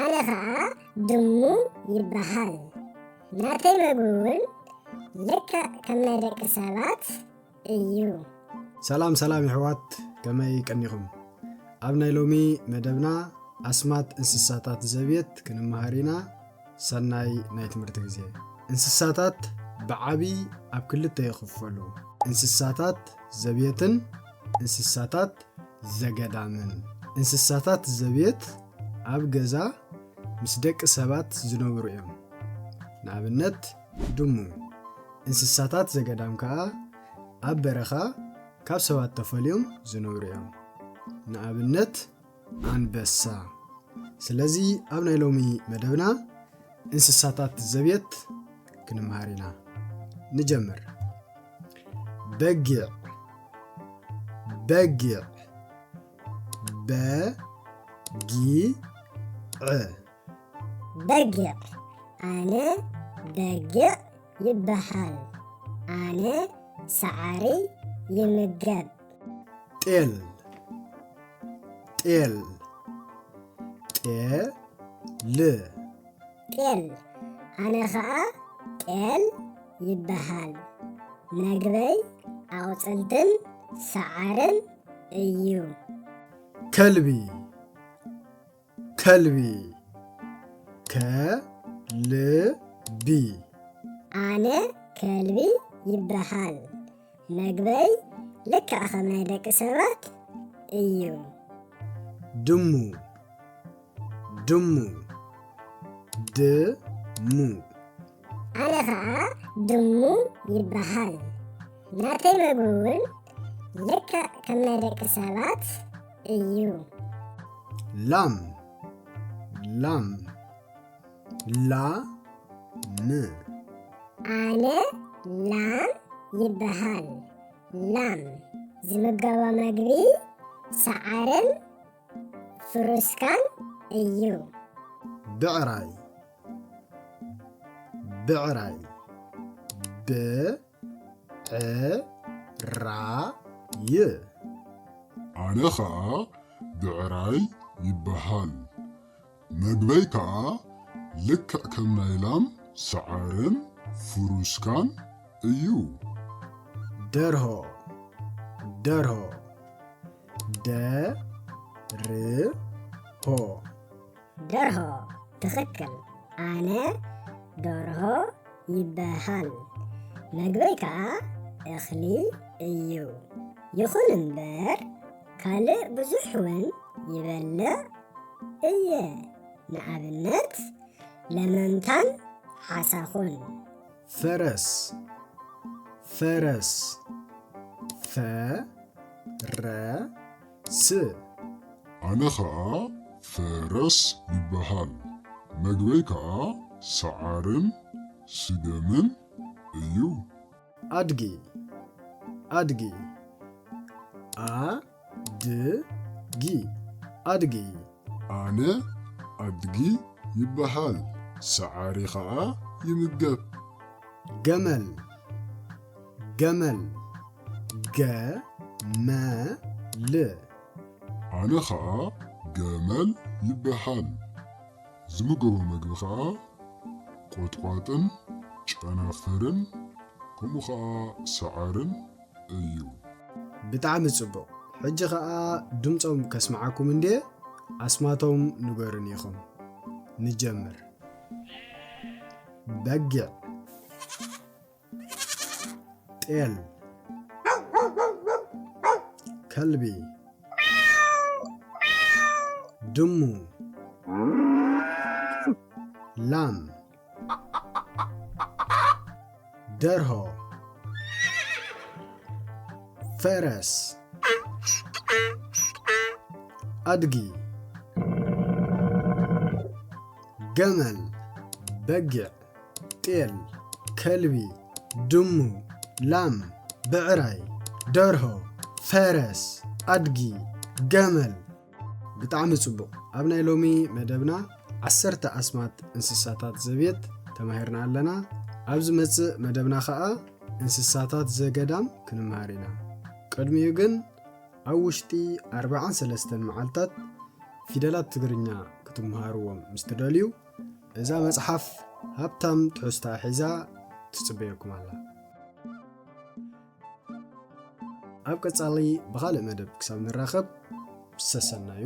ኣነ ኸኣ ድሙ ይበሃል። ናተይ መግቢ'ውን ልክዕ ከም ናይ ደቂ ሰባት እዩ። ሰላም ሰላም የሕዋት ከመይ ቀኒኹም? ኣብ ናይ ሎሚ መደብና ኣስማት እንስሳታት ዘብየት ክንመሃር ኢና። ሰናይ ናይ ትምህርቲ ግዜ። እንስሳታት ብዓቢ ኣብ ክልተ ይኽፈሉ። እንስሳታት ዘብየትን እንስሳታት ዘገዳምን። እንስሳታት ዘብየት ኣብ ገዛ ምስ ደቂ ሰባት ዝነብሩ እዮም። ንኣብነት ድሙ። እንስሳታት ዘገዳም ከኣ ኣብ በረኻ ካብ ሰባት ተፈልዮም ዝነብሩ እዮም። ንኣብነት ኣንበሳ። ስለዚ ኣብ ናይ ሎሚ መደብና እንስሳታት ዘቤት ክንምሃር ኢና። ንጀምር። በጊዕ በጊዕ በጊዕ በጊዕ ኣነ በጊዕ ይበሃል ኣነ ሳዕሪ ይምገብ ጤል ጤል ጤል ጤል ኣነ ኸዓ ጤል ይበሃል መግበይ ኣቑፅልትን ሳዓርን እዩ። ተልቢ ተልቢ ተልቢ ኣነ ከልቢ ይበሃል መግበይ ልክዕ ከም ናይ ደቂ ሰባት እዩ። ድሙ ድሙ ድሙ ኣነ ኸኣ ድሙ ይበሃል። ናተይ መግቢ እውን ልክዕ ከም ናይ ደቂ ሰባት እዩ። ላም ላም ላ ም ኣነ ላም ይበሃል። ላም ዝምገቦ መግቢ ሰዓርን ፍሩስካን እዩ። ብዕራይ ብዕራይ ብዕራይ ኣነ ኸኣ ብዕራይ ይበሃል መግበይ ከኣ ልክዕ ከም ናይ ላም ሰዓርን ፍሩስካን እዩ። ደርሆ ደርሆ ደርሆ ደርሆ ትኽክል ኣነ ዶርሆ ይበሃል መግበይ ከኣ እኽሊ እዩ ይኹን እምበር ካልእ ብዙሕ ውን ይበልዕ እየ ንኣብነት ለመምታን ሓሳኹን። ፈረስ ፈረስ ፈ ረ ስ። ኣነ ኸኣ ፈረስ ይበሃል፣ መግበይ ከኣ ሰዓርን ስገምን እዩ። ኣድጊ ኣድጊ ኣ ድ ጊ ኣድጊ። ኣነ ኣድጊ ይበሃል ሰዓሪ ኸኣ ይምገብ። ገመል ገመል ገ-መ-ል። ኣነ ኸኣ ገመል ይበሃል ዝምገቦ መግቢ ኸኣ ቆጥቋጥን ጨናፍርን ከምኡ ኸኣ ሰዓርን እዩ። ብጣዕሚ ጽቡቅ ሕጂ ከኣ ድምጾም ከስምዓኩም እንድየ ኣስማቶም ንገሩኒ ኢኩም ንጀምር በጊዕ ጤል ከልቢ ድሙ ላም ደርሆ ፈረስ ኣድጊ ገመል በጊዕ ጤል ከልቢ ድሙ ላም ብዕራይ ደርሆ ፈረስ ኣድጊ ገመል ብጣዕሚ ጽቡቕ ኣብ ናይ ሎሚ መደብና ዓሰርተ ኣስማት እንስሳታት ዘቤት ተማሂርና ኣለና ኣብ ዝመጽእ መደብና ኸኣ እንስሳታት ዘገዳም ክንመሃር ኢና ቅድሚኡ ግን ኣብ ውሽጢ 43 መዓልታት ፊደላት ትግርኛ ክትመሃርዎም ምስ ትደልዩ እዛ መጽሓፍ ሃብታም ትሕዝታ ሒዛ ትጽበየኩም ኣላ ኣብ ቀጻሊ ብኻልእ መደብ ክሳብ ንራኸብ ሰሰናዩ